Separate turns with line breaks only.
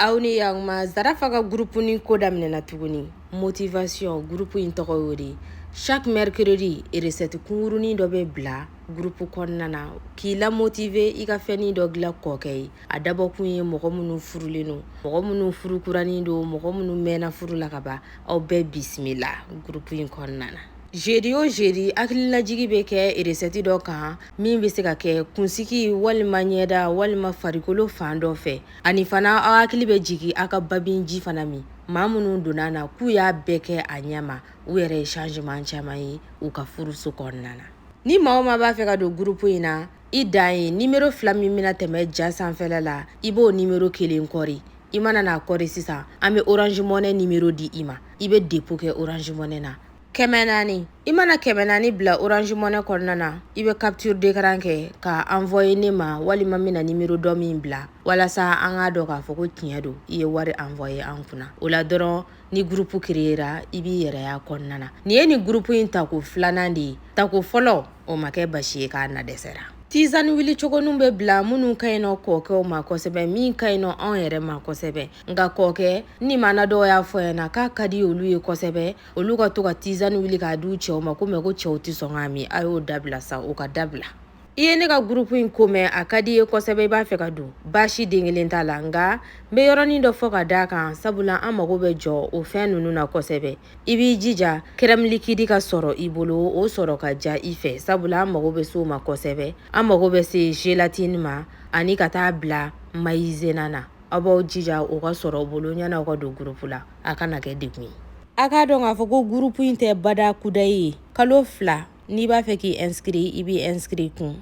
aw ni yakuma zarafa ka gurupu ni ko daminɛna tuguni motivation gurupu in tɔgɔ y'o de ye chaque mercredi recette kungurunin dɔ bɛ bila gurupu kɔnɔna na k'i lamotive i ka fɛnnin dɔ dilan kɔkɛ ye a dabɔkun ye mɔgɔ minnu furulen don mɔgɔ minnu furukuranin don mɔgɔ minnu mɛnna furu la ka ban aw bɛɛ bisimila gurupu in kɔnɔna na jeudi o jeudi hakililajigi bɛ kɛ eresɛti dɔ kan min bɛ se ka kɛ kunsigi walima ɲɛda walima farikolo fan dɔ fɛ ani fana aw hakili bɛ jigin aw ka babin ji fana min maa minnu donna na k'u y'a bɛɛ kɛ a ɲɛma u yɛrɛ ye changement caman ye u ka furuso kɔnɔna na ni maa o maa b'a fɛ ka don gurupu in na i dan ye nimero fila min bɛna tɛmɛ ja sanfɛla la i b'o nimero kelen kɔri i mana n'a kɔri sisan an bɛ orange money nimero di i ma i bɛ depo kɛ orange money na kɛmɛ naani i mana kɛmɛ naani bila orange money kɔnɔna na i bɛ capture d'écran kɛ ka envoyer ne ma walima n bɛna nimero dɔ min bila walasa an k'a dɔn k'a fɔ ko tiɲɛ don i ye wari envoyer an kunna o la dɔrɔn ni groupe créera i b'i yɛrɛ y'a kɔnɔna na nin ye nin groupe in tako filanan de ye tako fɔlɔ o ma kɛ baasi ye k'a na dɛsɛra tizani wulicogoninw bɛ bila minnu ka ɲi nɔ kɔɔkɛw ma kosɛbɛ min ka ɲi nɔ anw yɛrɛ ma kosɛbɛ nka kɔɔkɛ ni mana dɔw y'a fɔ n ɲɛna k'a ka di olu ye kosɛbɛ olu ka to ka tizani wuli k'a di u cɛw ma ko mɛ ko cɛw tɛ sɔn k'a min a y'o dabila sa o ka dabila i ye ne ka gurupu in ko mɛn a ka di i ye kosɛbɛ i b'a fɛ ka don baasi den kelen t'a la nka n bɛ yɔrɔnin dɔ fɔ ka d'a kan sabula an mago bɛ jɔ o fɛn ninnu na kosɛbɛ i b'i jija kɛrɛmilikidi ka sɔrɔ i bolo o sɔrɔ ka ja i fɛ sabula an mago bɛ se o ma kosɛbɛ an mago bɛ se gelatini ma ani ka taa bila mayizenan na aw b'aw jija o ka sɔrɔ aw bolo yanni aw ka don gurupu la a kana kɛ degun ye a k'a dɔn k'a fɔ ko gurupu in tɛ bada kudayi ye kalo fila n'i b'a fɛ k'i ɛnsikiri i b'i ɛnsikiri kun